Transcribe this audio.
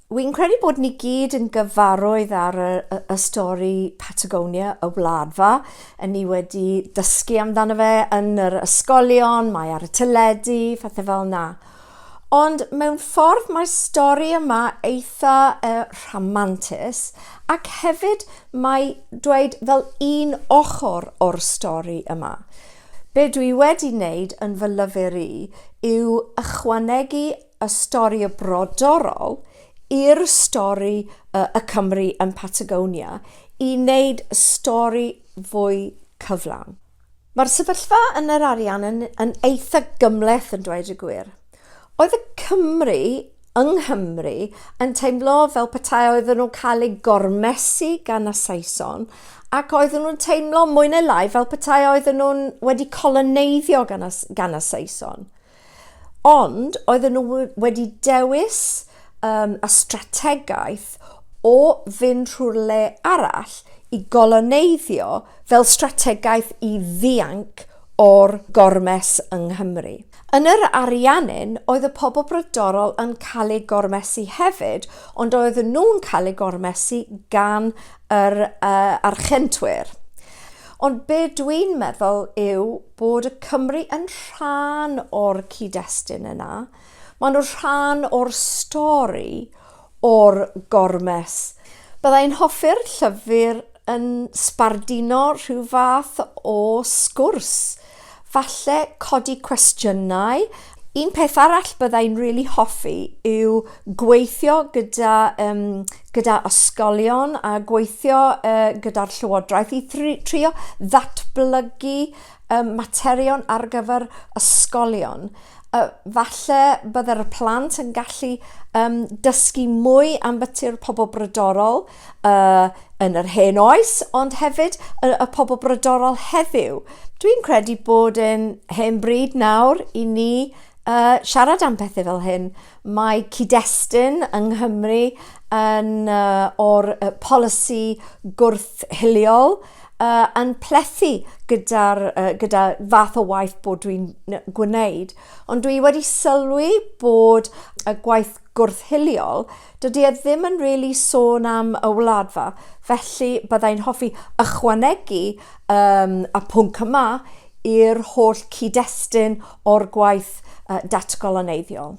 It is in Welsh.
Wi'n credu bod ni gyd yn gyfarwydd ar y, y, y stori Patagonia, y wladfa. Yn ni wedi dysgu amdano fe yn yr ysgolion, mae ar y teledu, fathau fel na. Ond mewn ffordd mae'r stori yma eitha uh, rhamantus ac hefyd mae dweud fel un ochr o'r stori yma. Be dwi wedi wneud yn fy lyfr i yw ychwanegu y stori y brodorol i'r stori y, y Cymry yn Patagonia i wneud y stori fwy cyflawn. Mae'r sefyllfa yn yr arian yn, yn eitha gymleth yn dweud y gwir. Oedd y Cymry yng Nghymru yn teimlo fel petai oedden nhw'n cael eu gormesu gan y Saeson ac oedden nhw'n teimlo mwy neu lai fel petai oedden nhw'n wedi coloneiddio gan y, gan y Saeson. Ond oedden nhw wedi dewis um, y strategaeth o fynd rhyw'r le arall i goloneiddio fel strategaeth i ddianc o'r gormes yng Nghymru. Yn yr Ariannin, oedd y pobl brodorol yn cael ei gormesu hefyd, ond oedd nhw'n cael ei gormesu gan yr uh, archentwyr. Ond be dwi'n meddwl yw bod y Cymry yn rhan o'r cyd-destun yna. Maen nhw'n rhan o'r stori, o'r gormes. Bydda i'n hoffi'r llyfr yn sbarduno rhyw fath o sgwrs Falle codi cwestiynau. Un peth arall bydda i'n rili hoffi yw gweithio gyda yym gyda ysgolion a gweithio yy gyda'r Llywodraeth i thri- trio ddatblygu yym materion ar gyfer ysgolion. Yy falle bydde'r y plant yn gallu yym dysgu mwy ambiti'r pobol brodorol uh, yn yr hen oes, ond hefyd y, y pobl brydorol heddiw. Dwi'n credu bod yn hen bryd nawr i ni uh, siarad am pethau fel hyn. Mae cyd-destun yng Nghymru yn uh, o'r uh, polisi gwrthhiliol uh, yn plethu gyda'r uh, gyda fath o waith bod dwi'n gwneud. Ond dwi wedi sylwi bod y gwaith gwrthhiliol Dydy e ddim yn really sôn am y wladfa, felly byddai'n hoffi ychwanegu um, y pwnc yma i'r holl cyd-destun o'r gwaith uh, datgoloneiddiol.